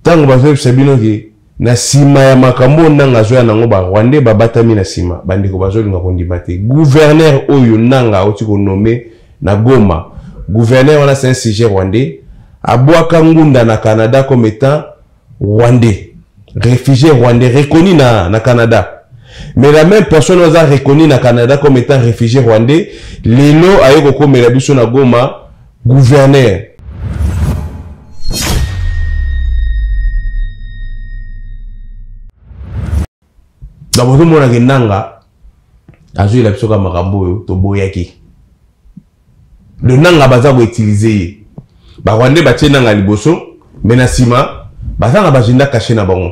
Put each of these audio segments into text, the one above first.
ntango bazoyebisa bino ke na nsima ya makambo oyo nanga azoya nango barwandais babatami na nsima bandeko bazolinga kondima te guverner oyo nanga auti konome na goma guverner wana c'est un sujet rwandais abwaka ngunda na canada comme étant rwandais réfugié rwandais reconnu na, na canada mais la même personne oyo aza reconnu na canada comme étant réfugié rwandais lelo aye kokomela biso na goma Gouverneur. Donc ozomona ke nanga azoyela biso ka makambo oyo toboyaki. Le nanga baza koutilize ye. Barwande batie nanga liboso, me na nsima baza na bagenda kashe na bango.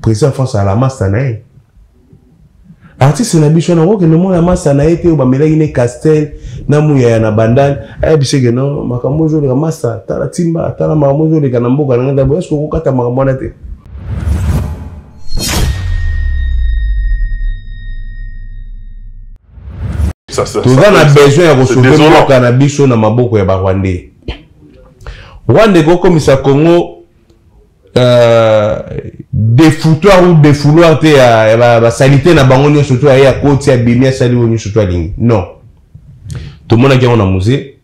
Président France à la masta na ye. Artiste na biso na kokende mona masta na ye te oyo bamelaki ne Castel na muyaya na bandal ayebisi ke no makambo ozoleka masta tala timba tala makambo ozoleka na mboka na ngai ndabo eske okokata makambo wana te toza na besoin ya kosote mboka na biso na maboko ya barwandais rwanda ekokomisa congo Euh, defoutoir ou defouloir te ya basalite na bango nyonso to aye akoti abimi asali oyo nyonso to alingi non tomonaki yango na musée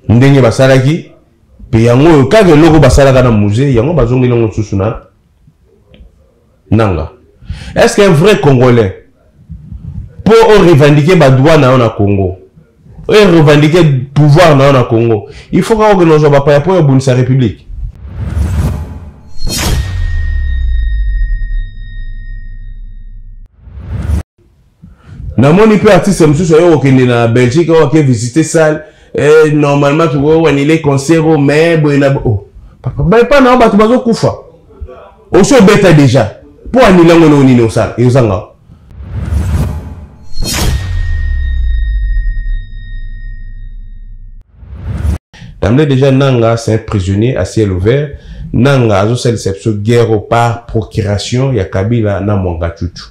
ndenge basalaki mpe yango oyo kaka eloko basalaka na musée yango bazongeli yango lisusu na nanga est ce qu'un vrai congolais mpo orevendike badroit na yo na congo orevendike pouvoir na yo na congo il faut kaka okende ozwa bapaya mpo obundisa république namoni mpe artiste mosusu ayo kokende na belgique oyo ake visite salle eh, normalement tokoki wanile concert o mais boye na oh. papa baye mpa nao bato bazokufa osi obeta deja mpo anile yango eloko nini osala ezanga Tamle déjà Nanga, c'est un prisonnier à ciel ouvert. Nanga, azo sali sepso guerre par procuration ya Kabila na Mwangachuchu.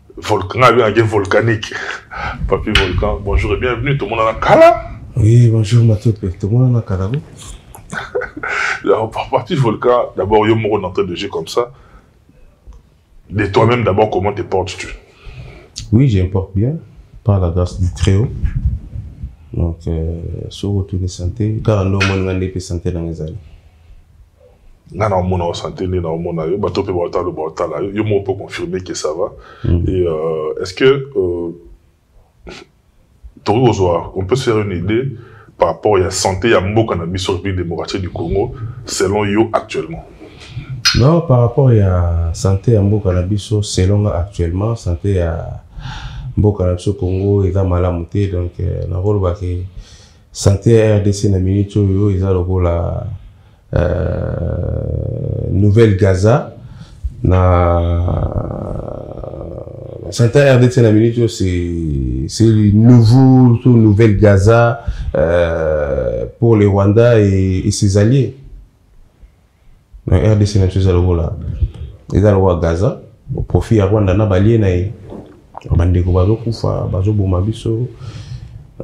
volcan nga abengaki ye volcanique papi volcan bonjour et bienvenue tomonana kala oui bonjour matope tomonana kala bo papi volcan d'abord yo moko d'entrée de jeu comme ça de toi-même d'abord comment te portes-tu oui je me porte bien par la grâce du très haut donc euh, soki otuni santé kaka nde omoni nga nde mpe santé nanga ezali nga na omona o santé nde na omona yo bato mpe baotala baotala yo moko mpo confirme que ça va mm. et euh, est ce que euh, tokoki kozwa on peut se faire une idée par rapport ya santé ya mboka na biso république démocratique du congo selon yo actuellement non par rapport ya santé ya mboka na biso selon nga actuellement santé ya mboka na biso congo eza malamu te donc euh, nakolobake Sante ya RDC na minute oyo eza lokola euh, nouvelle Gaza na sante ya RDC na minute oyo c'est nouveau to nouvelle Gaza euh, pour le Rwanda et, et ses alliés na rdc na biso eza lokola eza lokola gaza profit ya rwanda na balie na ye bandeko bazokufa bazoboma biso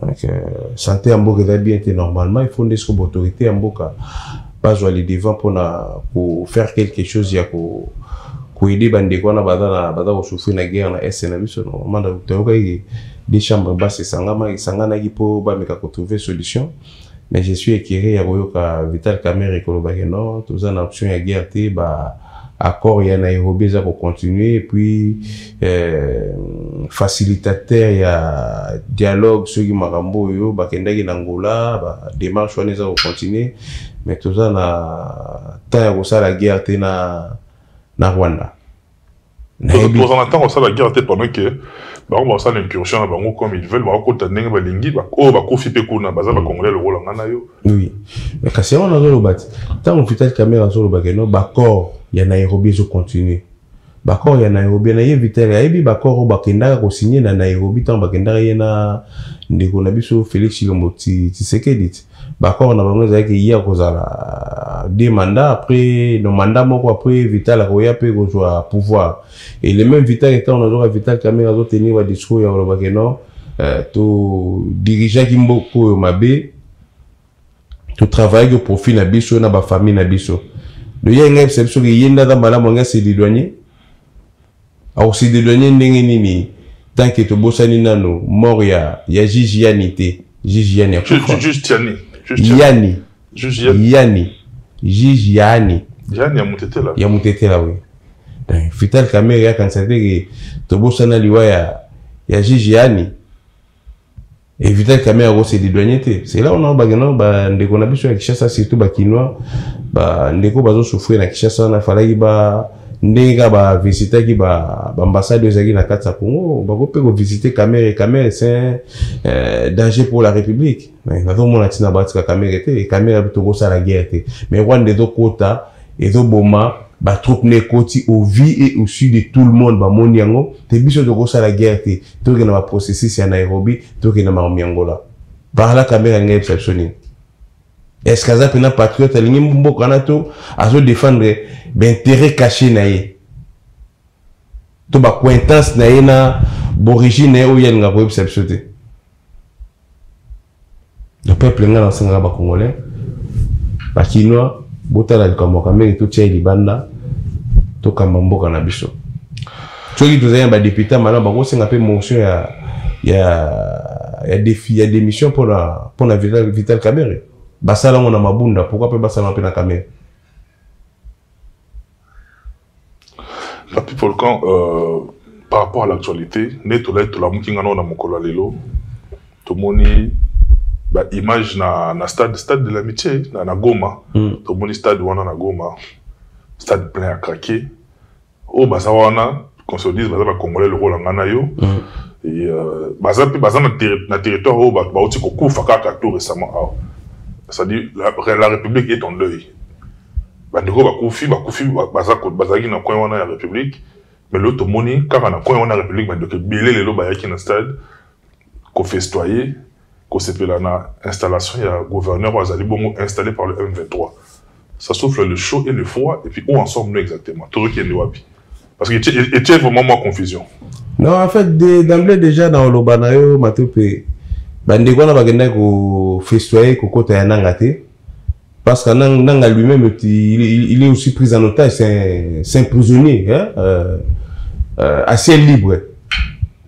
donc euh, sante ya mboka eza bien te normalement il faut nde siko baautorité ya mboka bazwa le devant mpona kofaire quelque chose ya ko koyede bandeko wana baza na baza kosouffrir na guerre na est na biso normalement toyokaki des chambres bas esangamaki esanganaki mpo bameka kotrouve solution Mais je suis écœuré ya koyoka Vital Kamerhe koloba que non, toza na option ya guerre te, ba accords ya Nairobi eza ko continuer et puis euh, facilitateur ya dialogue soki makambo oyo bakendaki na Angola, ba démarche wana eza ko continuer, mais toza na temps ya kosala guerre te na na Rwanda. toza na ntango asala guerre te pendant ke bango basala incursion na bango comme ils veulent bakokota ndenge balingi oyo bakufi mpe kuna baza bacongolais lokola ngai na yo oui mais kasi yango nazoloba ti ntango vital camera azoloba keno baccord ya nairobi ezocontinue baccord ya nairobi na ye vital ayebi baccord oyo bakendaka kosigne na nairobi ntango bakendaka ye na ndeko na biso félix chilombo tisekedi ti Baccord na bango ezalaki ye akozala deux mandats après no mandat moko après Vital akoya mpe kozwa pouvoir et le même Vital etant nazoka Vital Kamerhe azotenir ba discours ya koloba ke non euh, to dirigeaki mboka oyo mabe to travaillaki au profit na biso na ba famille na biso donc ye ngai bisabi soki ye nde aza malamu ngai se liloigner Akosi de douane ndenge nini tant que tobosani nano mort ya ya juge yani te juge yani akufa juste yani juste yani juge yani yani juge yani yani ya mutetela ya mutetela oui donc Vital Kamerhe akanisa te ke tobosana liwa ya ya juge yani Evita kamera ko se dédouaner te. C'est là on a bagana ba ndeko na biso ya Kinshasa surtout ba kinois ba ndeko bazo souffrir na Kinshasa na falaki ba ndenge ka ba visitaki ba ambassade oyo ezalaki na kati ya congo bakoki mpe kovisite kamere kamere c'est euh, danger pour la république nazomona ntina batika kamere te kamere tokosala guerre te mais rwanda ezokota ezoboma ba troupes na ekoti au vu et au su de tout le monde bamoni yango te biso tokosala guerre te tokende na ba processus ya nairobi tokende na makambo ya ngola parla kamere alingi ayebisa biso nini est ce que aza mpena patriote alingi mboka wana to azodefendre bainteret caché na ye to bacointance na ye na borigine na ye oyo alinga koyebisa biso te le peuple nga nasengaka ba congolais ba kinois botala likambo ya kamere totia ye libanda tokamba mboka na biso soki tozali na badepute malamu bakosenga mpe motion ya ya ya defi ya démission mpona mpona vital, vital kamere basala yango na mabunda pourkui mpe basala mpe na kamere La people quand euh, par rapport à l'actualité, ne tolai tolamuki ngana na mokolo ya lelo tomoni ba image na na stade stade de l'amitié na, na Goma mm. tomoni stade wana na Goma stade plein à craquer oyo baza wana qu'on se dise baza bacongolais lokola ngai na yo euh, baza mpe baza na territoire oyo bato bauti kokufa kaka tout récemment awa c'est-à-dire la, la république est en deuil bandeko bakufi bakufi bazalaki na coin wana ya république mais lelo tomoni kaka na coin wana ya république bandeko ebele lelo bayaki na stade ko festoyer kosepela na installation ya gouverneur oyo azali bongo installé par le M23 ça souffle le chaud et le froid et puis où en sommes nous exactement tozokende wapi parce que etie vraiment mwa confusion non en fait d'emblée déjà na oloba na yo matope bandeko wana bakendaki kofestoye kokota ya nanga te Parce que Nanga lui-même, il, il, il, est aussi pris en otage, c'est un, un, prisonnier, hein, euh, euh, à ciel libre.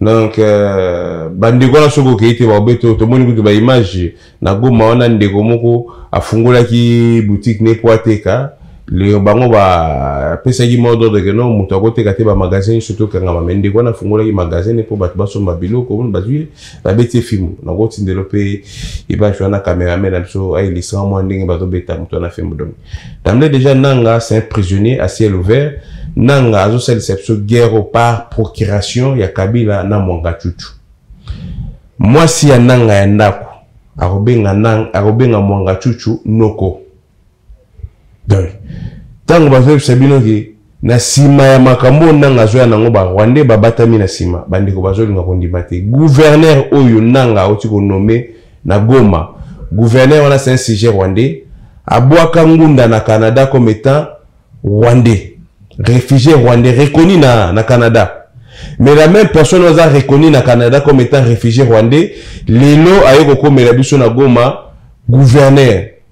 donc euh, bandeko wana soki okei te baobe to tomoni kutu baimage na goma wana ndeko moko afungolaki boutique ne po ateka le bango bapesaki mot d'ordre ke no moto akoteka te bamagasin nyonso tokangama me ndeko wana afungolaki magasin ne mpo bato basomba biloko bazwi nabeti ye fimbu nakoti ndelo mpe ebaki wana cameraman na biso ayelisaka mwa ndenge bazobeta moto wana fimbu donc damle déjà nanga c'est un prisonnier à ciel ouvert nanga azosalisa biso guerre par procuration ya kabila na mwangachuchu mwasi ya nanga ya ndako akobenga nanga akobenga mwangachuchu noko donc ntango bazoyebisa bino ke na nsima ya makambo oyo nanga azoya nango barwandais babatami na nsima bandeko bazolinga kondima te guverner oyo nanga auti konome na goma guverner wana c'est un sujet rwandais abwaka ngunda na canada comme étant rwandais réfugié rwandais reconnu na, na canada mais la même personne oyo aza reconnu na canada comme étant réfugié rwandais lelo aye kokomela biso na goma guverner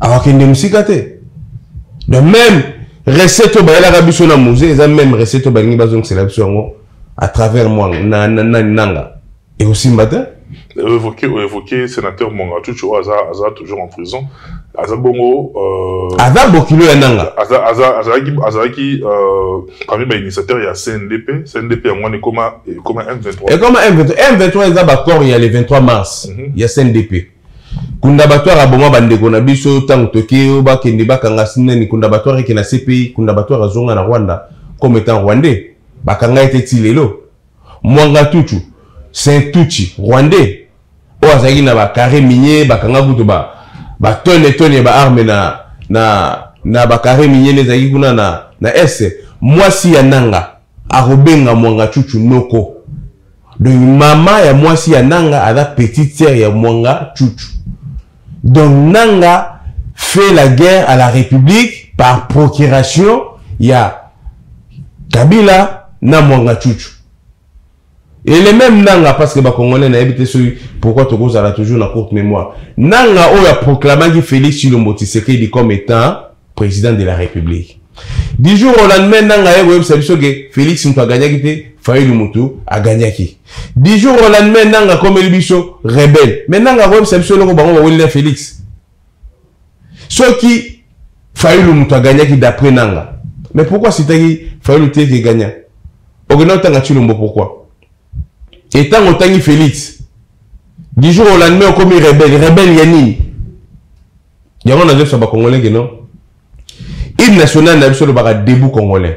awakende mosika te de même recette oyo bayelaka biso na musée eza même recette oyo balingi bazongisela biso yango à travers mwanga na, na, na, nanga ekosimba te évoqué évoqué sénateur Mwanga Chucho aza aza toujours en prison aza bongo euh, aza bokilo ya nanga aza aza azalaki azalaki euh, parmi ba initiateurs ya CNDP CNDP yango ni koma koma M23 et koma M23 M23 eza ba corps ya le 23 mars mm -hmm. ya CNDP kundabatware aboma bandeko na biso ntango toke yo bakende bakanga sinani kundabatware eke na cpi kundabatware azonga na rwanda comme etant rwandais bakanga ye te ti lelo mwanga tutu saint tuchi rwandais oyo azalaki na bacarre minier bakanga kutu batone tone ya baarme na, na, na bacarre minier nde ezalaki kuna na, na est mwasi ya nanga Akobenga Mwanga Chuchu Noko. Donc mama ya mwasi ya Nanga aza petite sœur ya Mwanga Chuchu. Donc Nanga fait la guerre à la République par procuration ya Kabila na Mwanga Chuchu. Et les mêmes nanga parce que ba congolais na yebite soki pourquoi tokozala toujours na courte mémoire. Nanga oyo a proclamaki Félix Tshilombo Tshisekedi comme étant président de la République. Du jour au lendemain nanga ye koyebisa biso ke Félix mutu agagnaki te, Fayulu mutu agagnaki. Du jour au lendemain nanga akomeli biso rebelle. Mais nanga koyebisa biso eloko bango baweli na Félix. soki fayulu moto agagnaki d'après nanga mais pourquoi asitaki fayulu te ke gagna okenda otanga chilombo pourquoi e ntango otangi félix du jour au lendemain okomi rebelle rebelle ya nini yango nazoyebisa bacongolais ke non hymne national na biso olobaka debout congolais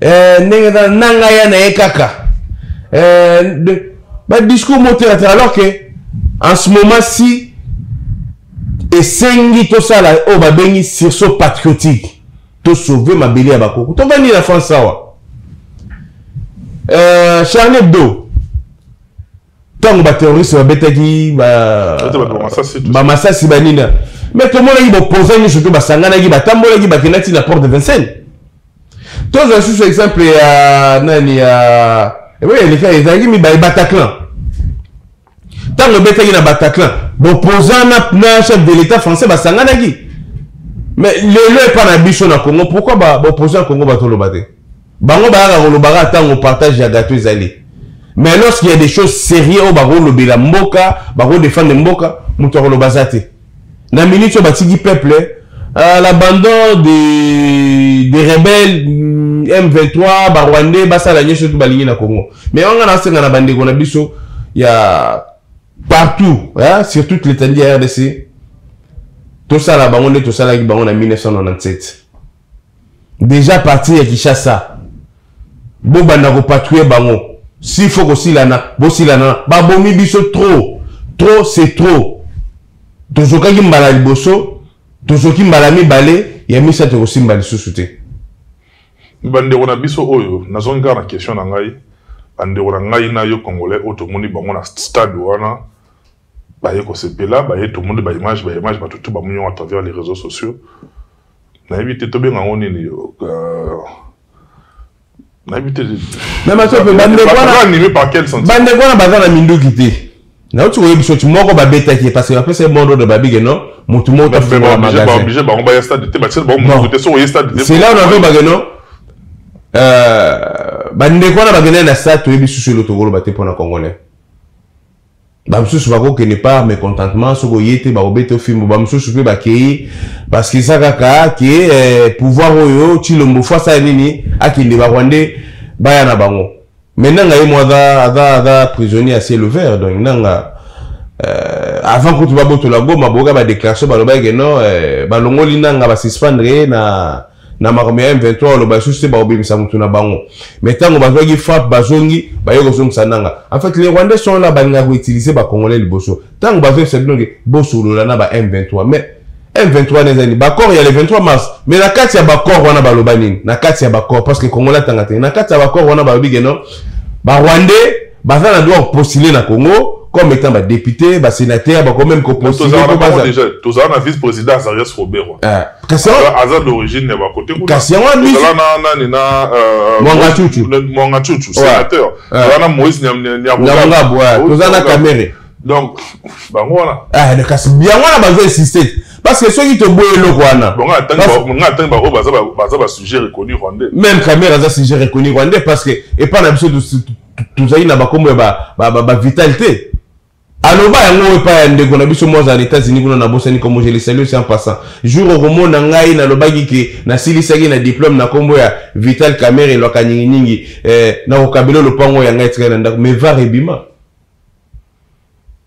eh, ndenge eza nanga ya na ye kaka eh, badiscours motelatela alors que en ce moment si esengi tosala oyo babengi sursaut patriotique tosauve mabele ya bakoko tovandi na france awa eh, charlie hebdo ntango baterroriste babetaki bamasasi banina me tomonaki bopoza nyonso to basanganaki batambolaki bakendaki na porte de vincennes tozwa lisusu exemple ya nani ya ebongo eleka ezalaki mibale bataclan ntango ebetaki na bataclan bopoza na chef de l'état français basanganaki mais lelo epa na biso na congo pourquoi bopoza ya congo batoloba te bango bayaka kolobaka ntango partage ya gato ezali mais lorsque ya des choses sérieux oyo bakolobela mboka bakodefendre mboka moto akoloba aza te na minute oyo batiki peuple euh, l'abandon de, de rebelle m23 barwandais basala nyonso oyo balingi na congo mais wanga nasenga na bandeko na biso ya partout hein, sur toute l'étendue ya rdc tosala bango nde tosalaki bango na 1997 deja partir ya kishasa bobanda kopatrouille bango si faut kosilana bosilana babomi biso trop trop c'est trop tozokaki mbala liboso tozoki mbala mibale ya misato ekosimba lisusu te bandeko na biso oyo nazongi kaka na question na ngai bandeko na ngai na yo congolais oyo tomoni bango na stade wana baye kosepela baye tomoni baimage baimage bato tu bamoni yango à travers les réseaux sociaux nayebi te tobenga yango nini euh, nayebi te bandeko wana baza na minduki te nauti koyebisa oti moko babetaki ye parce que bapesa ye mondo de babige no motu moko tafungola magasincelà ona mpe bage no euh, bandeko wana bakendaki na stade toyebi susu elo tokoloba te mpo na congolais bamosusu bakokende par mécontentement soki oye te bakobeta yo fimbo bamosusu mpe bakei parce que eza kaka ke eh, pouvoir oyo tshilombo fo asala nini akende barwandais baya na bango mais nanga ye mo aza aza aza prisonnier ya ciel ouvert donc nanga euh, avant kutu babotola goma boyoka badéclaration balobaki ke non euh, balongoli nanga basuspendre ye na na makambo ya M23 oloba lisusu te bakobimisa motu na bango me ntango bazwaki frappe bazongi baye kozongisa nanga en fait les rwandais sont là balingaka koutilize bacongolais liboso ntango bazoyebisa bino ke bosolola na ba M23 mais M23 wana ezali baccord ya le 23 mars mais na kati ya baccord wana baloba nini na kati ya baccord parce que congolais atanga te na kati ya baccord wana balobi ke non barwandais baza na droit postule na congo comme étant ba député ba sénateur bako même kopostule tozala na vice président azarias roberwa aza d'origine ya bakote kunazala na nani na mwanga cucu sénateur tozala na moïse nyabongabu tozala na kamere donc bango wana kasi yango wana bazo insiste Parce que soki to boye eloko wana. Bon nga tangi nga tangi ba oba za ba za ba sujet reconnu rwandais. Même Kamera za sujet reconnu rwandais parce que et pas na biso tozali na ba kombo ya ba ba ba vitalité. aloba yango epai ya ndeko na biso mwaza na états-unis kuna nabosani kombo je le salue sans passant jour okomona ngai nalobaki ke nasilisaki na diplôme na kombo ya vital camere elwaka nyinginyingi eh, nakokabela lopango ya ngai etikali na ndako mais var ebima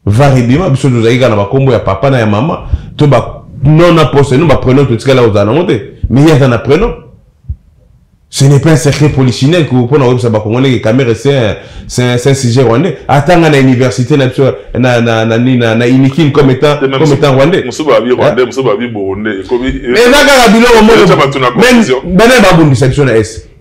var ebima biso tozalaki kaka na bakombo ya papa na ya mama to ba non na poste no baprenom totikala kozala nango te mais ye aza na prenom ce n'est pas un secret polichinelle mpona koyebisa bakongolais ke kamere c'est un sujet rwandais atanga na université na biso na, na, na, na, na inikine comme étant, comme étant rwandais mais eza kaka biloko moko bana babundisa biso na est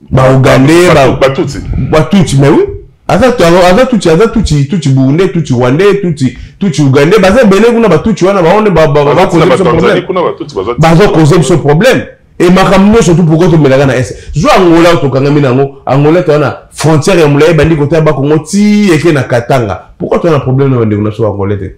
ba ougandais ba ba tutsi ba tutsi mais oui aza aza tutsi aza tutsi tutsi burundais tutsi rwandais tutsi tutsi ougandais baza ebele kuna ba tutsi wana baone ba ba ba cause biso problème baza cause biso problème et makambo nyonso tu pourquoi tomelaka na est zwa angola tokangami na yango angola toza na frontière ya molai ebandi kotala bakongo ti eke na katanga pourquoi toza na problème na bandeko na biso bangolais te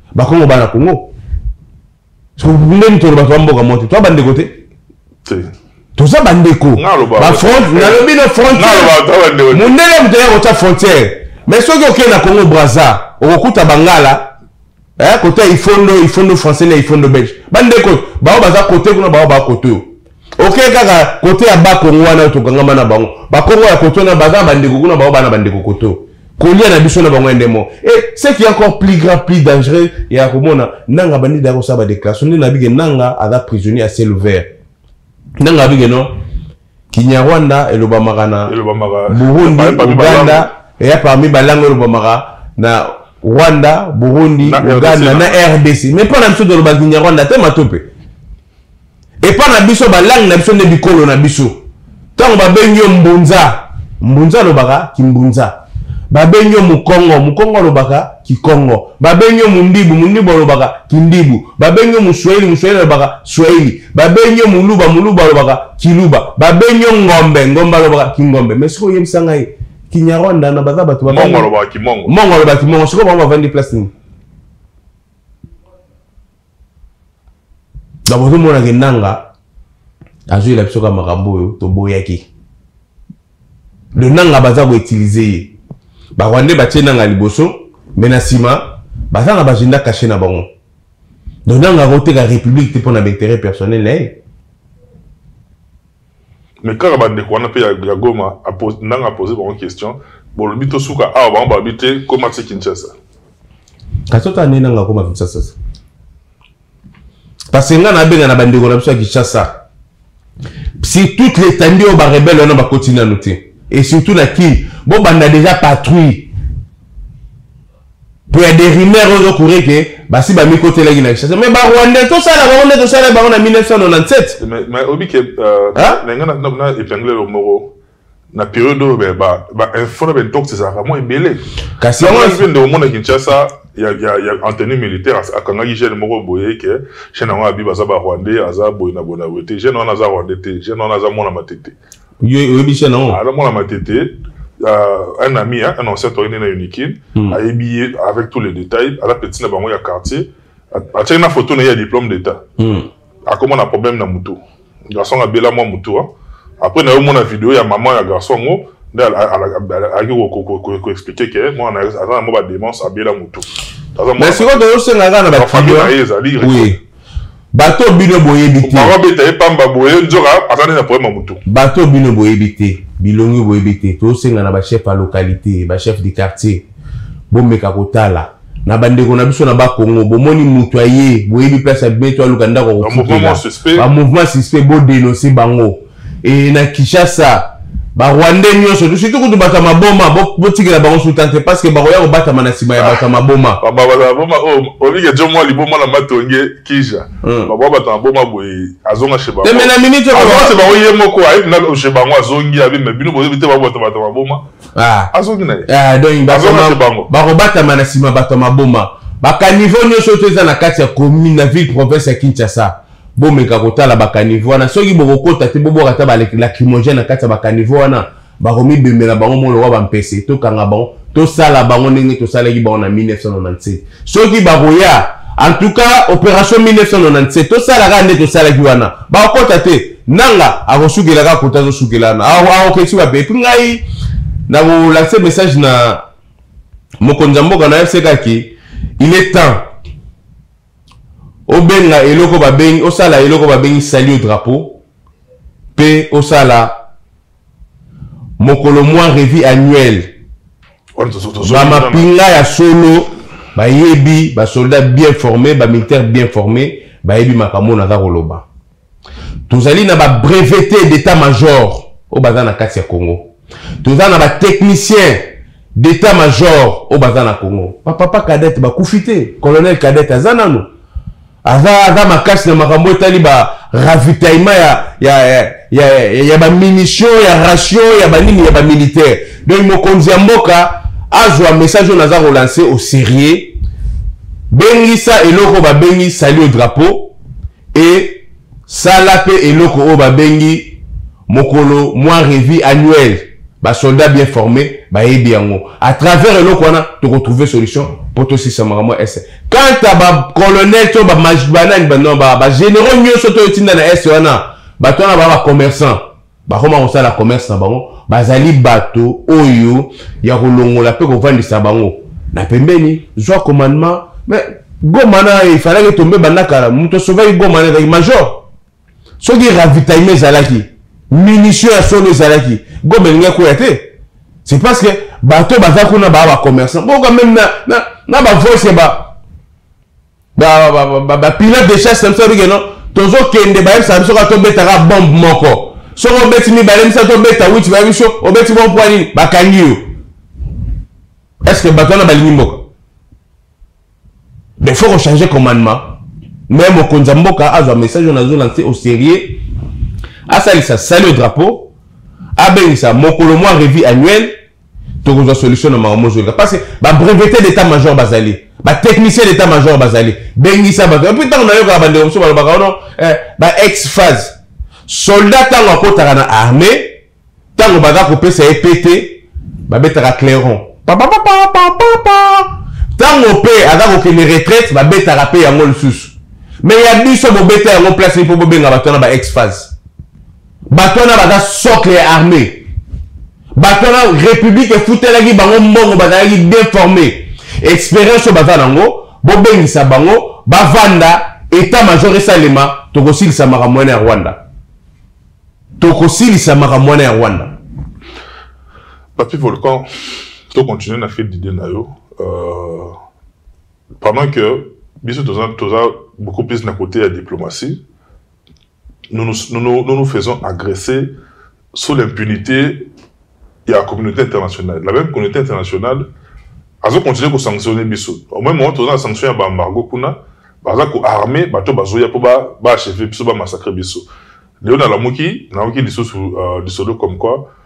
bakongo bana kongo ndeni tolo bato bamboka mote toa bandeko te toza bandeko nalobi na frontière mondele moto ya kotya frontière mais soki okei na congo braza okokuta bangala eh, kota ifondo ifondo français na ifondo belge bandeko baoyo baza kote kuna baoyo bakote oyo oke okay, kaka kote ya bakongo wana oyo tokangama na bango bakongo ya koto na baza bandeko kuna bango bana bandeko koto kolia na biso na bango ende moko e ce qui est encore plus grand plus dangereux ya komona nanga bandi daya kosala badéclaration nde nabike nanga aza prisonnier ya ciel ouvert nanga abike no kinyarwanda elobamaka na burundi uganda eya parmi balango elobamaka na rwanda burundi uganda na rdc mais mpo na biso tolobaka kinyarwanda te matope epa na biso balangi na biso nde bikolo na biso ntango babengi yo mbunza mbunza alobaka kimbunza babengi yo mokongo mokongo alobaka kikongo babengi yo mundibu mundibu alobaka kindibu babengi yo muswahili muswahili alobaka swahili babengi yo muluba muluba alobaka kiluba babengi yo ngombe ngombe alobaka kingombe mais sikoyo oyebisa ngai kinyarwanda na baza bato mongo alobaka kimongo mongo alobaka kimongo sikoyo bango bavandi place nini donc ozomona ke nanga azwela biso ka makambo oyo toboyaki le nanga baza koutilize ye barwandais batie nanga liboso me na nsima baza na bagenda kashe na bango donc nanga akoteka république te mpo na baintérêt personnel na ye mais kaka bandeko wana mpe ya goma ndanga apose bango question bolobi tosuka awa bango balobi te koma ti kinshasa kasi ota nde nanga akoma kinshasa parce que ngai nabenga na bandeko na biso ya kinshasa si toute l'étendue oyo barebele wana bakoti nano te et surtout na kini bobanda déjà patrouille po ya des rumeurs oyo ezokure ke basi bamikotelaki na kinshasa mais barwandais tosala bango nde tosala bango na 1997 mais obi ke euh, na ngai na épingle lo moko na periode oyo bainfo na baintox ezalaka mwa ebele kasi yango mpe nde omona kinshasa ya antenne militaire akangaki jeune moko boye ke jeune yango abi baza barwandais aza boye na boye na boye te jeune wana aza rwandais te jeune wana aza mwana matete yo oyebi chaîne yango alors mwana matete euh, un ami hein, un ancien toyende na unikin mm. ayebi ye avec tous les détails ala petit na bango ya quartier atiaki na photo na ye ya diplôme d'état mm. akoma na problème na motu garçon abela mwa motu hein. après na yo mona video ya maman ya garçon yango nde alaki koexplike ke mwana aza na mwa bademence abela motu mais sikoyo tozosenga kaka na bafamille na ye ezali bato bino boyebi te bango abeta ye pamba boye nzoka aza nde na problème ya motu bato bino boyebi te bilongi boyebi te tosenga na bachef ya localité bachef du quartier bomeka kotala na bandeko na biso na bakongo bomoni moto aye boyebi place abimi to aluka ndako ya kofuta bamouvement suspect bodenonse bango e na kinshasa barwandais nyonso surtout kutu bato ya maboma botikela bango suta te parce que bakoya kobatama na nsima ya bato ya maboma ah, bato ya maboma oyo olike jo mwa liboma na matonge kija hmm. bakoya bato ya maboma boye azonga chez bango teme na minute azonga chez bango ye moko ayebi na chez bango azongi abi mais bino boyebi te babato bato ya maboma ah. azongi na ye ah, donc azonga chez bango bakobatama na nsima bato ya maboma bakaniveau nyonso oyo to eza na kati ya commune na ville province ya kinshasa bomeka kotala bakanivo wana soki bokokota te bobwaka ata balacrimogène na kati ya bakanivo wana bakomibemela bango moko lokola bampese tokanga bango tosala bango ndenge tosalaki bango na 1997 soki bakoya en tout cas opération 1997 tosala kaka nde tosalaki wana bakokota te nanga akosukela kaka kota azosukela wana akokesi wapi epuis ngai nakolakisa message na mokonzi ya mboka na yo sekaki il est temps obenga eloko babengi osala eloko babengi sali au drapeau mpe osala mokolo mwa revue annuelle bamapinga ya solo bayebi basoldat bien forme bamilitaire bien forme bayebi makambo oyo naza koloba tozali na ba brevete d'état major oyo baza na kati ya congo toza na batechnicien d'état major oyo baza na congo bapapa cadete bakufi te colonel cadete aza nano aza, aza makasi na makambo etali ba ravitaillement ya, ya, ya, ya, ya bamunition ya ration ya banini ya bamilitaire donc mokonzi ya mboka azwa message oyo naza kolanse au sérieux bengisa eloko babengi sali au drapeau et sala pe eloko oyo babengi mokolo mwa revue annuelle basoldat bien forme bayebi yango à travers eloko wana tokotrouve solution mpo tosisa makambo ya est quant a bacolonel to banani bagénéraux nyonso toyo tinda na est wana bato wana baa bacommerçant bakoma kosala commerce na bango bazali bato oyo ya kolongola mpe kovandisa bango na pembeni zwa commandement mais goma na efalaki etombe banda kala moto asovaki goma na ezalaki major soki ravitaillement ezalaki munition ya solo ezalaki goma elingi akwea te c'est parce que bato baza kuna baa bacommerçant boka meme na, na, na bavoice ya ba bapilot de chasse na biso abike no tozokende bayebisa biso kaka tobetaka bombe moko soki obeti mibale misa tobeta witi bayebi biso obeti bombe mpo nini bakangi yo estce bato wana balingi mboka mais faut kochange commandement me mokonzi ya mboka azwa message oyo nazolanse au sérieux asalisa sali au drapeau abengisa mokolo mwa revue annuelle tokozwa solution na makambo ozolika parce que babrevete d'état major bazali batechnicien d'état major bazali bengisa bato epuis ntango nayokaka bandeko mosusu balobaka ono eh, ba ex phase soldat ntango akotaka na armée ntango baza kopesa ye pete babetaka clairon ntango mpe aza kokende retraite babetaka mpe yango lisusu me ya biso bobeta yango place mpo bobenga bato wana ba ex phase bato wana baza socle ya armée bato wana république efutelaki bango mbongo bazalaki bien formé expérience oyo baza nango bobengisa bango bavanda etat major esalema tokosilisa makambo wana ya rwanda tokosilisa makambo wana ya rwanda papi volcan tocontinue na fil d'idée na yo euh, pendant que biso toza toza beaucoup plus na côté ya diplomatie nous nous, nous, nous, nous, nous faisons agresser sous l'impunité de la communauté internationale. La même communauté internationale a continué à sanctionner Bissot. Au même moment, on a sanctionné à Bambargo Kuna, baza ko armé bato bazoya po ba ba achever biso ba massacrer biso leo na lamuki nayoki lisusu euh, lisolo comme quoi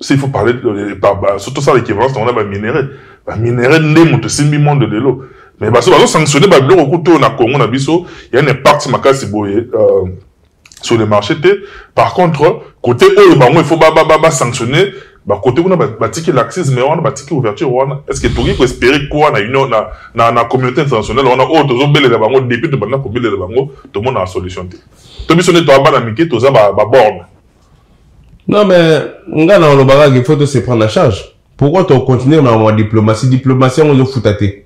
s'il faut parler euh, euh, surtout ça l'équivalence on a ba minerais ba minerais nde moto simbi monde de l'eau mais baso bazo sanctionner ba biloko kuto na Congo na biso il y a un impact makasi boye euh, sur le marché te par contre côté oyo bango il faut ba ba ba sanctionner ba côté kuna ba tiki laxisme wana ba tiki ouverture wana est-ce que toki ko espérer quoi na union na na na communauté internationale wana oyo tozo belela bango depuis to banda ko belela bango to mona solution te to biso ne to abana mike toza ba ba borne Non mais nga na olobaka il faut to se prendre en charge. Pourquoi tu continues na ma diplomatie diplomatie yango ezo futa te.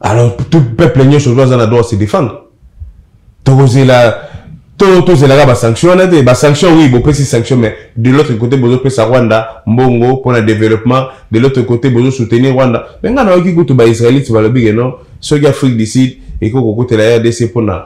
Alors tout peuple nyoso ozo aza na droit se défendre. Tokozela to tozelaka ba sanction wana te ba sanction oui bopesi sanction mais de l'autre côté bozopesa rwanda mbongo mpona développement de l'autre côté bozosoutenir rwanda me ngai nayoki kutu baisraélite balobi ke non soki afrique du sud ekoki kokutela rdc mpona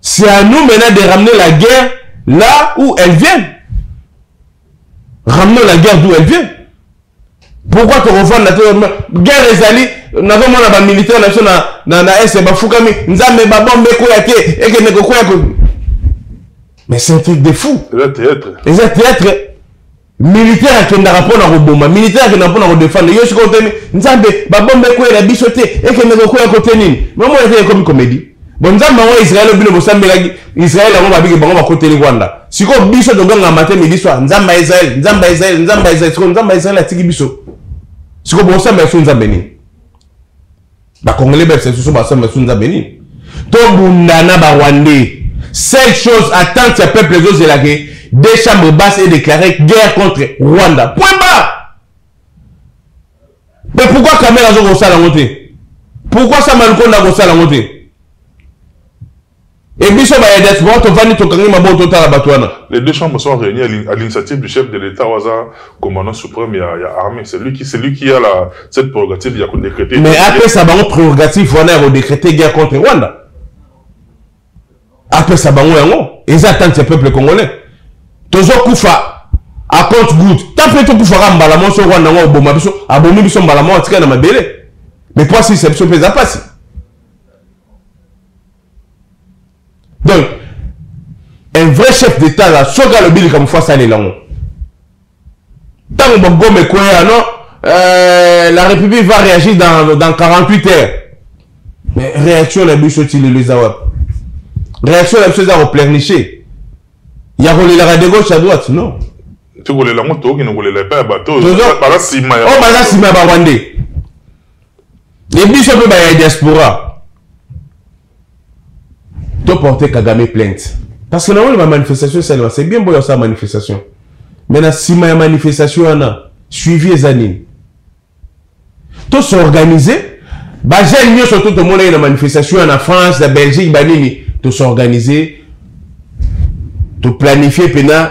C'est à nous maintenant de ramener la guerre là où elle vient. Ramenons la guerre d'où elle vient. Pourquoi tu revois la guerre les alliés nazomona bamilitaire na biso na na est bafukami nzambe babombe ekoya te ekende kokwea ko mais c'est un truc de fou eza théâtre eza théâtre militaire akendaka mpo na koboma militaire akendaka mpo na kodefendre yo sikoyo teni nzambe babomba ekweyela biso te ekende kokwela kote nini mamona te ekomi komedi bo nzambe yango israele bino bosambelaki israele yango babiki bango bakoteli rwanda sikoyo biso toganga mate midi soir nzambe ya israele nzambe ya israele nzambe ya israele sikoyo nzambe ya israele atiki biso sikoyo bosambela so nzambe nini ba congolais ba session ba samba sous nzambe nini to bunda na ba rwandais seule chose attente ya peuple ezozela ke deux chambres basse et déclaré guerre contre rwanda point barre mais pourquoi kamere azo kosala yango te pourquoi samba lukonda akosala yango te Et biso ba diaspora tovandi tokangi maboko totala bato wana. Les deux chambres sont réunies à l'initiative du chef de l'État Waza, commandant suprême ya, ya armée. C'est lui qui c'est lui qui a la cette prérogative ya ko décréter. Mais après ça bango prérogative wana ya ko décréter guerre contre Rwanda. Après ça bango yango, ils attendent ce peuple congolais. Tozo kufa à compte good. Tant pis to kufa mbala mo so Rwanda ngo boma biso, abomi biso mbala mo atika na mabele. Mais quoi si c'est biso pesa pasi. donc un vrai chef d'état là soki alobi likambo fo asalela yango ntango bagome ekweya non euh, la république va réagir dans, dans 48 heures mais réaction na biso ti lelo eza wapi réaction na biso eza koplerniche ya kolelaka de gauche à droite non tokolela yango tokokende kolela epai ya bato oyo baza nsima ya oh, baza nsima ya barwandais e biso mpe baya diaspora toporte kagame plainte parce que nango bamanifestation esalema c'est bien boyo asala manifestation mais na nsima ya manifestation wana suivi eza nini tosorganize bajeune nyonso to tomona ye na manifestation ya na france na belgique banini tosorganize toplanifie mpena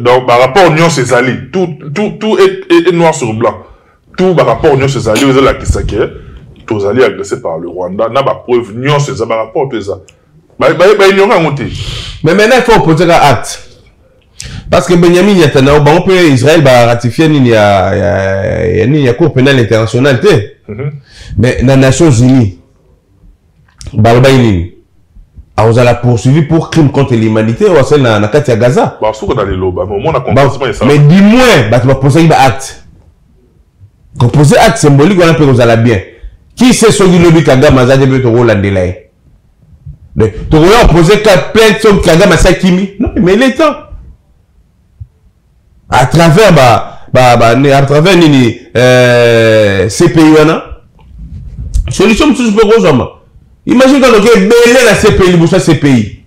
donc ba rapport nyonso ezali tout tout tout est noir sur blanc tout ba rapport nyonso ezali oyo ezolakisa ke tozali agressé par le rwanda na ba preuve nyonso eza ba rapport to eza baignoka yango te mais maintenant il faut opose ka acte parce que benyamin netanyahu bango mpe israel baratifie nini ya, ya, ya, nini ya cour pénale internationale te mm -hmm. mais na nations unies balobaki nini akozala poursuivi pour crime contre l'humanité oyo asali na kati ya gaza mais du moins bato baposaki baacte kopose acte symbolique wana mpe kozala bien qui sait soki lobi kagame aza te mpe tokolandela ye tokoya opose plainte soki kagame asakimi non mais il est temps à travers ba ba ba à travers nini euh, CPI wana solution mosusu mpe kozwama imagine kaka noki ebele na CPI liboso ya CPI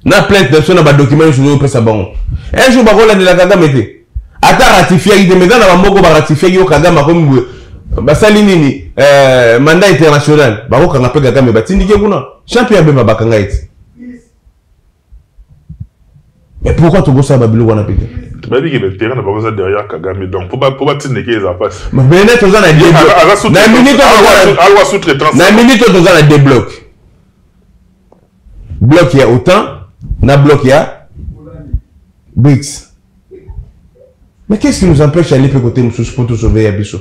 na plainte na biso na badokima nyonso tozopesa bango un jour bakolandela kagame te ata ratifiaki te meza na bamoko baratifiaki yo kagame akomi boye basali nini euh, mandat international bakokanga mpe kagame batindike kuna champion abeba bakanga ete mais pourquoi tobosana babiloko wana mpe te toyebi ke baterrain na bango eza derrière kagame donc po batindeke eza mpasi bene toza na alwa sous-traitance na minute oyo toza na deux bloc bloc ya otan na bloc ya brics mais qu'est ce qui nous empêche aller mpe kote mosusu mpo tosauve ya biso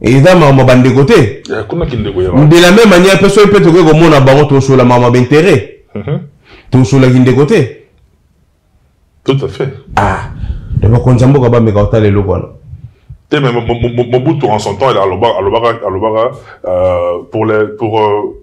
eza makambo bandeko te de la même manière mpe soki mpe tokoki komona bango tosola makambo ya bainteret mhm. tosolaki ndeko te tout à fait ah de bakonzi ya mboka bameka kotala eloko wana te mais mobutu en son temps alobaka euh, pour les pour euh,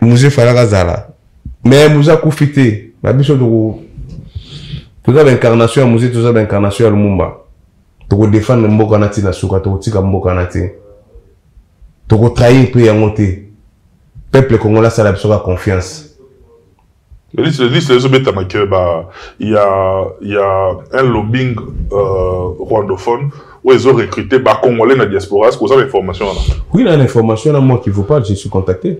muze falaka zala me muze akufi te na biso toko toza baincarnation ya muze toza baincarnation ya lumumba tokodefendre mboka na ntina suka tokotika mboka na te tokotrahir mpe yango te peuple congolais asala biso ka confiance liste liste ezo betama que ba ya ya un lobbying euh, rwandophone où ils ont recruté ba congolais na diaspora est-ce que vous avez information là oui na information là moi qui vous parle je suis contacté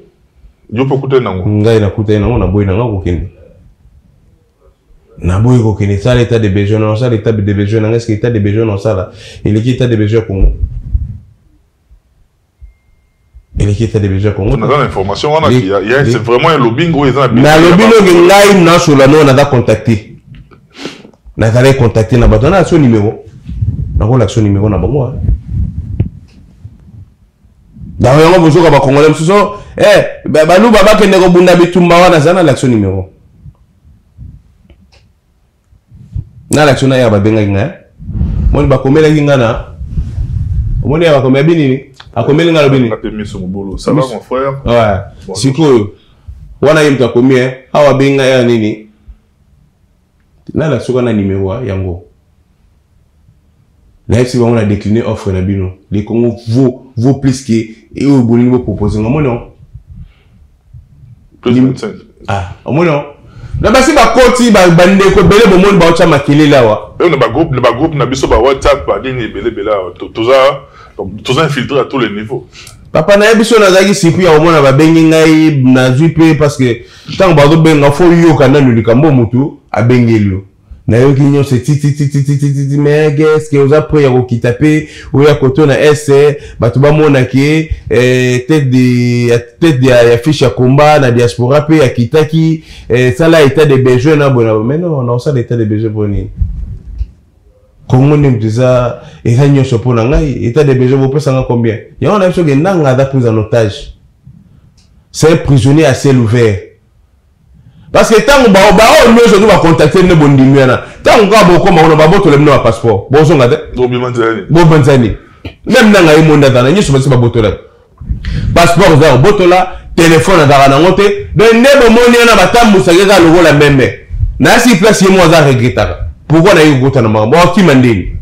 yo pe kuta nango ngai na kuta nango na boy nango kokende na boy kokende ça l'état de besoin non ça l'état de besoin nanga est-ce que l'état de besoin non ça là il est état de besoin Congo eleki ete debeja kongo naza na information wana c'est vraiment un lobbying oyo eza na nalobi noki ngai nasola noo naza contacte nazalaki contacte na bato nalakisa yo nimero nakolakisa yo nimero na bango yango yango bozoka bakongole mosusu eh, baluba bakende kobunda bitumba wana aza nalakisa yo nimero na lakisi na ya babengaki ngai moni bakomelaki ngai na omoni ya bakomela binini akomeli ngai lobi nini sikoyo wana ye moto akomi eh, awa abengi ngai ya nini nalakisi oka na nimero yango nayebi si bango na décline offre na bino le congo vaut, vaut plus que oyo bolingi bopropose nga omoni yango ah, omoni yango na basi bakoti bandeko ebele bomoni baotya makelele awa na bagroupe na biso ba whatsapp banini ebele ebele awa toza infiltre à tous les niveaux papa na ye biso nazalaki siku ya komona babengi ngai nazwi mpe parce que ntango bazobenga fo yoka nanu likambo motu abengeli yo nayoki nyonso etititititititi me geske oza pre ya kokita mpe oya koto na est bato bamona ke eh, tete ya fiche ya combat na diaspora mpe akitaki eh, sala etat de besoin na boye na boye mai non naosala etat de besoin mpo nini kongo nde moto eza eza nyonso mpo na ngai etat de besoin bopesa ngai combien yango na biso ke nanga aza prise en otage c'est un prisonnier à ciel ouvert parce que ntango baoyo nyonso to bacontacte nde bondimi wana ntango kaka bokoma kuna babotola bino bapasseport bozonga te bobanza nini meme na ngai monde azana nyonso basi babotola passeport eza kobotola telefone azalaka nango te donc nde bomoni wana batambusaki kaka lokola meme nayasi place ye moko aza regretaka pourkoi naye kokota na makambo akima ndeni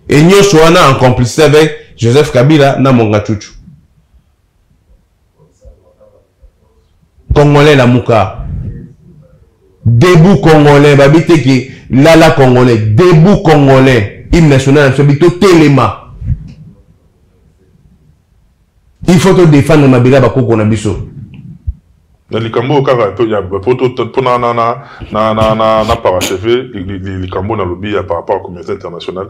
e nyonso wana en complicité avec joseph kabila na monga cucu Congolais lamuka. Debout Congolais, babi te ke lala Congolais, debout Congolais, hymne national na biso bito telema. Il faut to défendre mabela bakoko na biso. na likambo oyo kaka mpona na paracheve likambo nalobi ya par rapport ya communauté internationale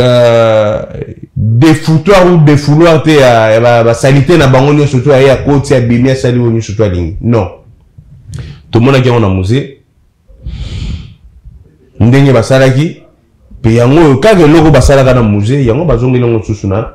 Euh, defoutoir ou defouloir te ya basalite na bango nyonso to aye akoti abimi asali oyo nyonso to alingi non tomonaki yango na musée ndenge basalaki mpe yango oyo kaka eloko basalaka na musée yango bazongeli yango lisusu na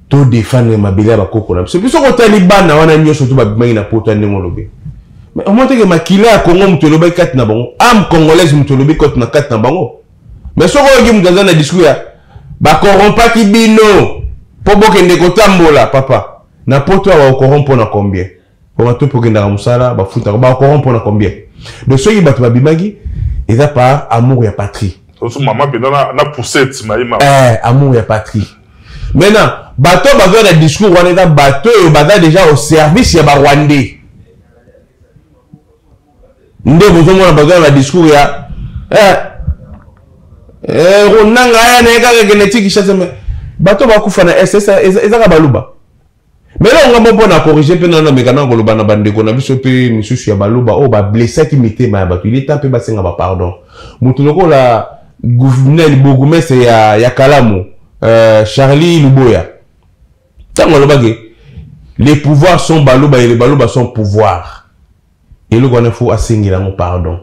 to defendre mabele ya bakoko na biso biso kotali bana wana nyonso to babimaki na poto ya ndenge olobi mais omoni teke makila ya kongo moto elobaki kati na bango ame congolaise moto elobi koti na kati na bango mais soki oyoki moto aza na discours ya bakorompaki bino mpo bokende kotambola papa na poto awa okoron mpo na combien Pona to pokendaka musala ba futaka ba koron pona combien? Donc soki batu ba bimaki eza par amour ya patrie. Osu maman penda na na poussette na ima. Eh amour ya patrie. Maintenant bato bazo na discours wana eza bato oyo baza déjà au service ya ba rwandais. Nde bozo mona bazo na discours ya eh eh ronanga ya na kaka genetique chasse mais bato bakufa na SS ezaka baluba. Mais là, on va na corriger pe na meka na koloba na bandeko na biso pe misusu ya baloba oyo oh, ba blessa ki mitema ya bato. Il est temps pe basenga ba pardon. Mutu lokola gouverneur bourgmestre ya ya Kalamu, euh, Charlie Luboya. Tango alobaki les pouvoirs sont baloba et les baloba sont pouvoir. eloko wana fo asengela yango pardon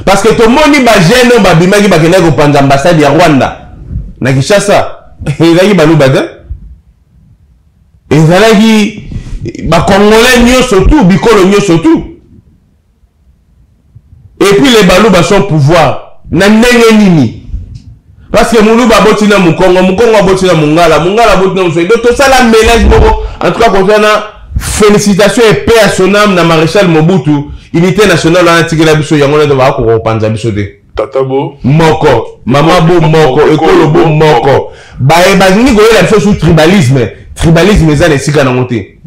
parce que tomoni bajeune oyo babimaki bakendaki kopanza ambassade ya rwanda na kinshasa ezalaki baluba te ezalaki bakongolais nyonso tu bikolo nyonso tu epuis le baluba son pouvoir na ndenge nini Parce que Muluba aboti na Mukongo, Mukongo aboti na Mungala, Mungala aboti na Muswahili. Donc tosala mélange moko. En tout cas, concernant félicitations et paix à son âme na Maréchal Mobutu, unité nationale wana tikela biso yango na ba ko kopanza biso te. Tata bo moko, mama bo moko, ekolo bo moko. Baye balingi koyela biso sous tribalisme, tribalisme eza na esika nango te.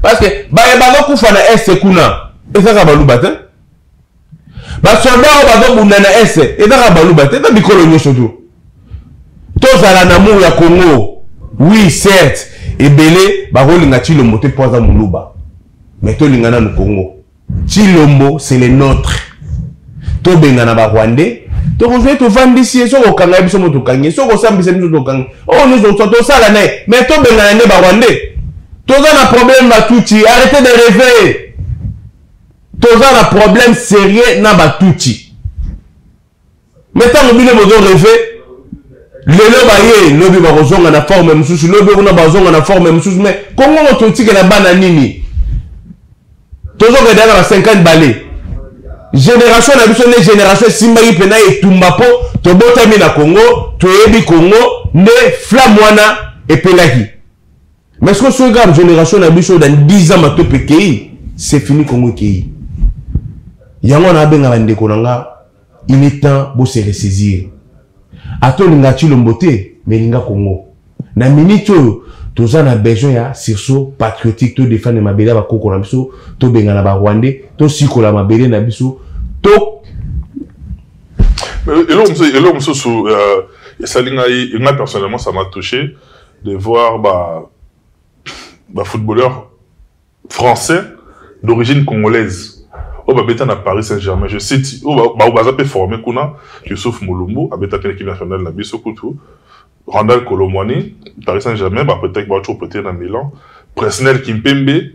Parce que baye bazokufa na est kuna ezaka baluba te. basoda oyo bazobunda na est eza kaka baluba te eza bikolo nyonso to tozala na mur ya congo oui certes ebele bakolinga chilombo te mpo aza moluba mais tolinga nanu congo chilombo c'est le nôtre tobengana barwandais tokozali tovandisi ye soki okanga ye biso mo tokangi ye soki osambisa biso tokangi oyo nyonso tosala na ye mais tobengana nde barwandais toza na problème batutsi arrete de reve toza na problème sérieux na batutsi me ntango bino bozo reve lelo baye lobi bakozonga na forme mosusu lobi kuna bazonga na forme mosusu me kongo moto otikela bana nini tozokenda na ba 50 bale génération na biso nde génération esimbaki mpena etumba mpo tobotami na congo toyebi congo nde flamme wana epelaki mais soki soki kaka génération na biso dans 10 ans matope ekei c'est fini kongo ekei yango wana abenga bandeko na nga il est temps bo se ressaisir ata olinga chilombo te mais linga kongo na minute oyo toza na besoin ya sursaut patriotique todefendre mabele ya bakoko na biso tobengana barwandais tosikola mabele na biso to eloko mosusu esali ngai ngai personnellement ça m'a touché de voir ba ba footballeur français d'origine congolaise oyo babeta na paris saint germain je cite oyo baza mpe forme kuna yusuf molumbu abetaki na équipe nationale na biso kutu randal colomwani paris saint germain bapretaki baoco prete na milan presnel kimpembe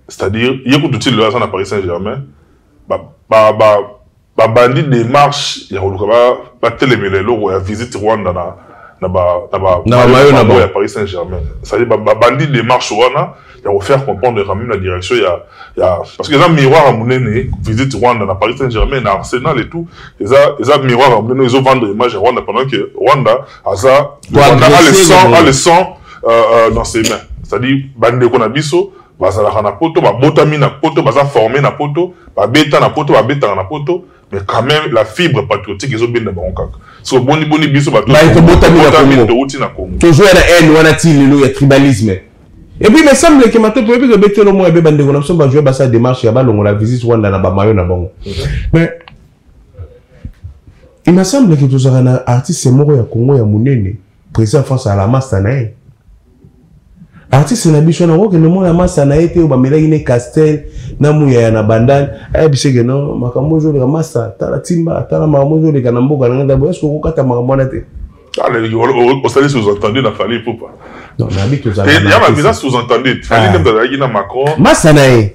c'est-à-dire ye kutu ti lelo aza na paris saint germain ba, ba, ba, babandi démarche ya koluka batelemela eloko ya visite rwanda na na bamayo na bango ya paris saint germain cestadire babandi démarche wana ya kofaire comprendre quand même la direction ya ya parce que eza miroir ya monene visite rwanda na paris saint germain na arsenal et tout eza eza miroir ya monene ezovendre image ya rwanda pendant que rwanda aza rwanda a le sang a le sang euh, euh, dans ses mains c'est-à-dire bandeko na biso bazalaka na poto babotami na poto baza forme na poto babeta na poto babetaka na poto mais quand même la fibre patriotique ezobenda bango kaka siko boni boni biso batotouti na congo tozoya na haine wana ti lelo ya tribalisme epuis me semble ke matoto oyebi tobeti elo moko ebe bandeko na biso bajoue basala démarche ya balongola visite rwanda na bamayo na bango mhm. mais il me semble ke tozalaka na artiste moko ya congo ya monene Président France à la masta na ye. Artiste na biso na kokende mona masta na ye te oyo bamelaki ne Castel na muyaya na bandani ayebisi eke no makambo ezoleka masta tala timba tala makambo ezoleka na mboka na ngai ndabo eske okokata makambo wana te osali sous-entendu na fali pupa ya babiza sous-entendu fali nde azalaki na macron masta na ye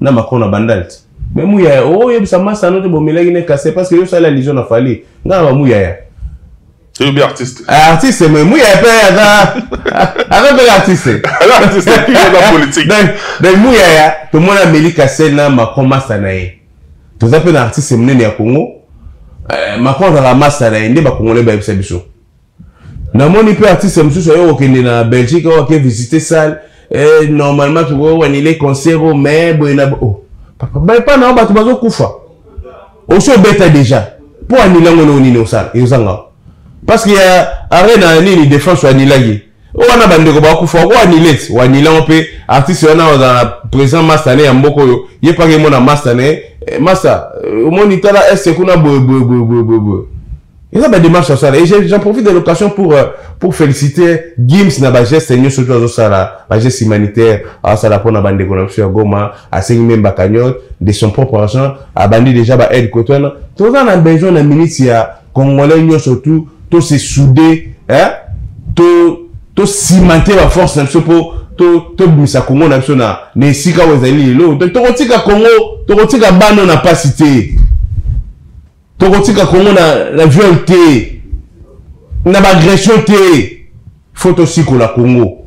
na macron na bandal ti me muyaya oyebisa oh, masano te bomelaki ne kase parce que yo osali allusion na fali nga na bamuyaya eyobi artiste eh, artiste me muyaya mpe aza aza mpe artiste donc muyaya tomoni ameli kase na macron masa na ye toza mpe na artiste monene ya congo eh, macron azalaka masa na ye nde bakongole bayebisa biso namoni mpe artiste mosusu aye kokende na belgique oyo ake visite salle eh, normalement tokoki koanile concert oyo mais boye na oh. papa epa na yo bato bazokufa osi obeta déjà mpo anile yango eloko nini osala ezanga parce que ya arena nini defense oanilaki oyo wana bandeko bakufa oko anile ti oanile yango mpe artiste wana ozala présent masta ne ya mboka oyo ye mpaka emona masta ne eh, masta eh, omoni tala este kuna boye boye boye boye boye eza ba démarche asala et j'en profite de l'occasion pour euh, pour féliciter Gims na ba gestes nyonso oyo azosala ba gestes humanitaires asala mpona bandeko na biso ya Goma asengi meme ba cagnotte de son propre argent abandi déjà ba aide koto wana toza na besoin na minute ya congolais nyonso tout to se souder hein to to cimenter ba force na biso mpo tobimisa to kongo na biso na na esika oyo ezali lelo tokotika kongo tokotika bana na mpasi te tokotika congo na, na viol te na baagression te fo tosikola congo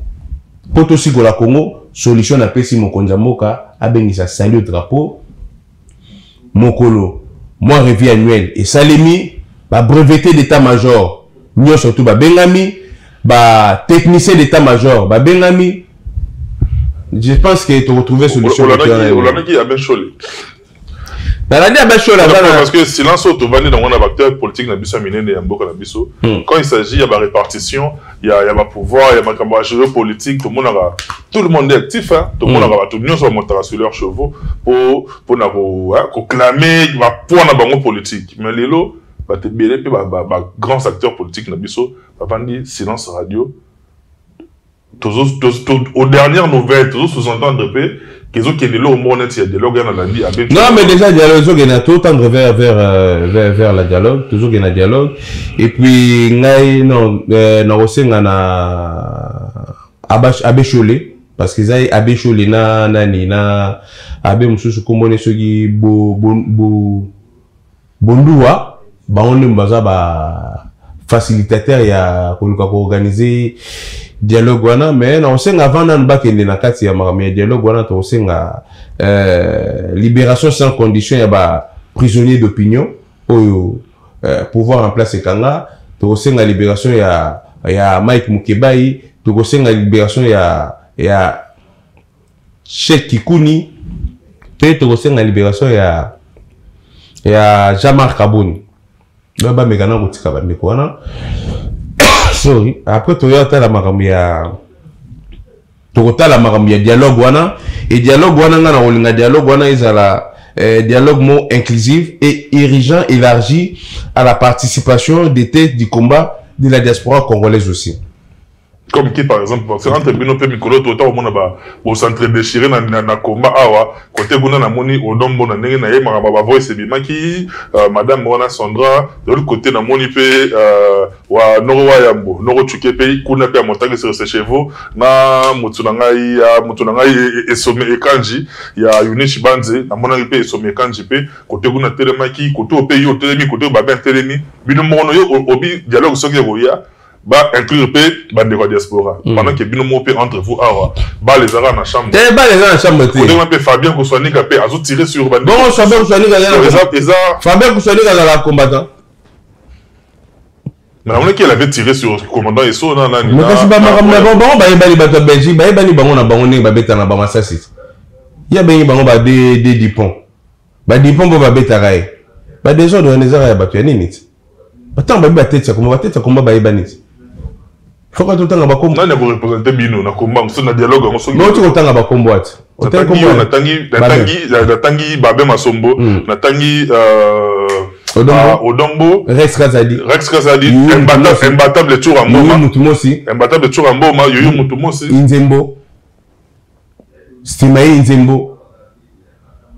mpo tosikola congo solution napesi mokonzi ya mboka abengisa salut drapeau mokolo mwa revie annuel esalemi babrevete d'état major nyonso tu babengami batechnicien d'état major babengami je pense que toretrouve solution nalandi abashol parce que silence oyo tovandi nango na baacteur politique na biso ya minene ya mboka na biso hmm. quand il s'agit ya barépartition ya, ya bapouvoir ya makambo ya géopolitique tomonaka tout le monde est actif hein? tomonaka hmm. bato nyonso bamontaka sur leur chevaux po mpona koclame bapoint na bango politique mais lelo bato ebele mpe bagrands acteurs politiques na biso bavandi silence radio aux dernières nouvelles tozo sous-entendre mpe kezokende eloko moko neti ya dialogue ya nalandi abe non mais déjà dialogue ezokende totendre vers vers euh, vers vers la dialogue tozokende na dialogue et puis ngai non euh, nakosenga na abe shole parce que eza abe shole na nani na abe mosusu kombone soki bo, bo, bo Bonduwa bango nde baza ba facilitateur ya koluka ko organiser dialogue wana mais na osenga avant nanu bakende na kati ya makambo ya dialogue wana tokosenga euh, libération sans condition ya ba prisonnier d'opinion oyo euh, pouvoir en place ekanga tokosenga libération ya ya Mike Mukebayi tokosenga libération ya ya Sheikh Kikuni mpe tokosenga liberation ya ya Jean-Marc Kaboni ba bameka na kotika bandeko wana sorry après toya tala makambo ya tokotala makambo ya dialogue wana e dialogue wana ngai nakolinga dialogue wana ezala eh, dialogue mo inclusive et irrigant élargi à la participation des têtes du combat de la diaspora congolaise aussi comme qui par exemple parce entre bino pe mikolo to ta omona ba bo centre déchiré na na, na combat awa côté kuna na moni odombo na ndenge na ye maka ba voice ebimaki euh, madame wana Sandra de l'autre côté na moni pe euh, wa noko wa yambo noko chuke pe kuna pe amotaki sur ses chevaux na mutu na ngai ya mutu na ngai esome e, e ekanji ya Yunichi Banze na monaki pe esome ekanji pe côté kuna telemaki côté pe yo telemi côté ba bien telemi bino mono yo obi dialogue soki ekoya ba inclure mpe bandeko ya diaspora mm. pendant ke bino moko mpe entre vous awa bale ezalaka na chambre te bale eza na chambre te odenge mpe fabien koswanika mpe azo tire sur bandebongo fabien koswanika eza fabien koswanika azalaka combattant mais namonaki elle avait tiré sur commandant eso na nani mais kasi bamakambo na bango bango bayebani bato ya belgique bayebani bango na bango ndenge babeta na bamasasi ye abengi bango ba de dupont ba dipon bo babetaka ye ba desordre wana ezaka ya bato ya nini ti batango babi bateti ya komba bateti ya komba bayebani ti foka totanga bakombo nani akorepresente bino na komba mosusu na dialogue yango soki oti kotanga bakombo ati natangi babe masombo hmm. natangi euh, ah, odombo rex kazadi rex kazadi imbatable tour ya mboma imbatable tour ya mboma yoyo motu mosi inzembo sima ye nzembo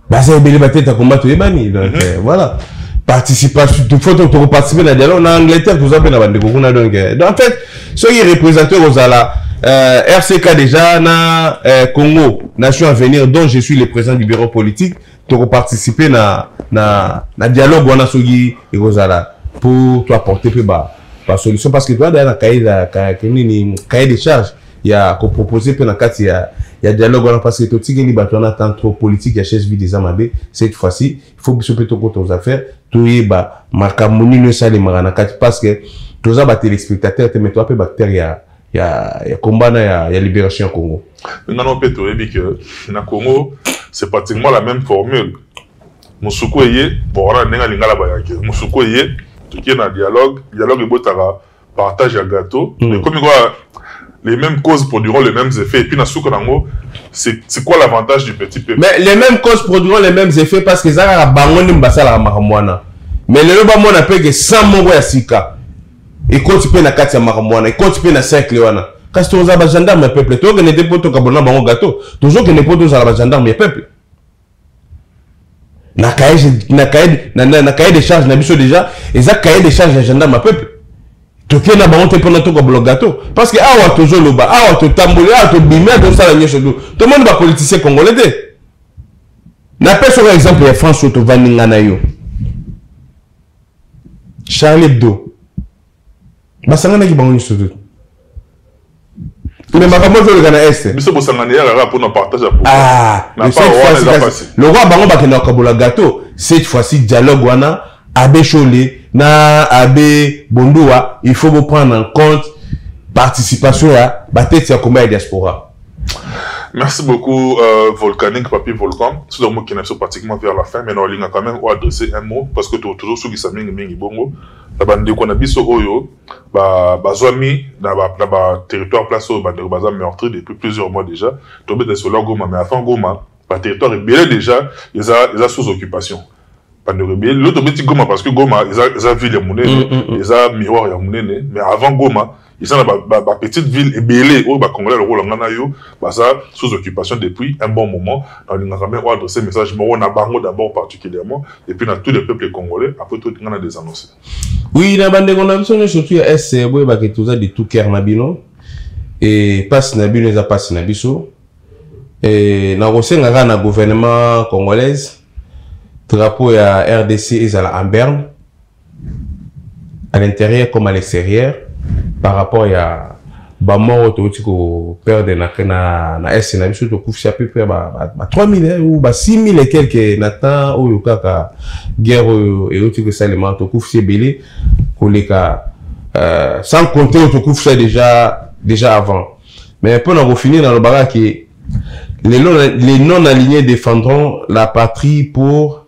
baza ebele bateta komba toyebani donc mhm. euh, voilà participation faut tokoparticipe na dialogue na angleterre toza mpe na bandeko kuna donc euh, en fait soki représenté kozala euh, rck déjà na euh, congo nation avenir dont je suis le président du bureau politique tokoparticipe na, na, na dialogue wana soki ekozala pour toapporte mpe ba, ba solution parce que toadaya na cahier de charge ya ko proposer pe na kati ya ya dialogue wana parce que totikeli bato wana temps trop politique ya chaise vide eza mabe cette fois ci il faut biso mpe tokota aux affaires toyeba makambo nini esalemaka na kati parce que toza batelespectateur te mais toza mpe baacteur ya ya, ya combat na ya, ya libération ya congo nano mpe toyebi ke na congo c'est pratiquement la même formule mosuku eye bon wana ndenge alingala bayaki mosuku eye tokie na dialogue dialogue ebotaka partage ya gâteau mm. ekomi quoi les mêmes causes produiront les mêmes effets. Et puis, dans ce c'est quoi l'avantage du petit peuple Mais les mêmes causes produiront les mêmes effets parce que ça, bangoni mbasala makamwana. Mais le loba mona pe que sans mongo ya sika. Et quand tu peux na katia makamwana, et quand tu peux na cercle wana. Kasi toza ba gendarme ya peuple, tozo kende te poto kabona bango gâteau, tozo kende poto zala ba gendarme ya peuple. na cahier na cahier na, na, na cahier de charge na biso déjà eza cahier de charge ya gendarme ya peuple toke na bango te mpona tokobola gato parce que awa tozoloba awa totamboli awa tobimi awa tosala nyonso du tomoni bapoliticien congolais te napesa oka exemple ya france oyo tovandi nga na yo charlie hebdo basanganaki bango nyonso te mais makambo ezoleka na este biso bosangani ya kaka mpona partage ya ah, lokola bango bakenda kokabola gato cette fois-ci dialogue wana abe shole na abe bondua il faut boprendre en compte participation ya batete ya combat ya diaspora Merci beaucoup, euh, Volcanic, Papi Volcan. Tout le monde qui est pratiquement vers la fin, mais on a quand même adressé un mot parce que tu toujours ceux qui s'amènent, Mingi Bongo. na bandeko na biso oyo bazwami na baterritoire place oyo bandeko baza meurtri depuis plusieurs mois déjà tobeta lisolo ya goma mais avant goma baterritoire ebele déjà eza sous occupation bandeko ebele lelo tobeti goma parce que goma eza ville ya monene mm, mm, mm. eza miroir ya monene mais avant goma eza na bapetite ba, ba ville ebele oyo bacongolais lokola ngai na yo baza sous occupation depuis un bon moment nalingaka me oadresse message moko na bango d'abord particulièrement et puis na tous les peuples congolais après tout ngai na desannonce oui na bandeko na biso nyonso tu ya est eh, boyebaka ete oza de tout cœur na bino e mpasi na bino eza mpasi na biso e nakosenga kaka na gouvernement congolaise drapeau ya rdc ezala en berne à l'intérieur comme à l'extérieur par rapport ya bamort oyo touti koperdre na, na, na est na biso tokufisa peu près ba, ba, ba 3000 ou ba 6000 et quelque na temps oyo kaka guerre oyo euti kosalema tokufisa ebele koleka euh, sans compter oyo tokufisa déjà, déjà avant mais mpo na kofinir nalobaka ke les non-alignés défendront la patrie pour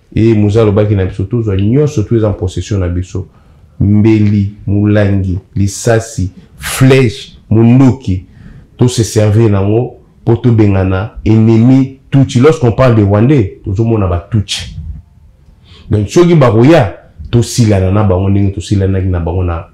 Eye Muza alobaki na biso, tozwa nyonso tu eza en possession na biso, mbeli, mulangi, lisasi, flèche, munduki, to se servir nango po tobengana ennemi Tutsi. Lorsqu'on parle de Rwandais, tozomona ba Tutsi. Donc soki bakoya tosilana na bango ndenge tosilanaki na bango na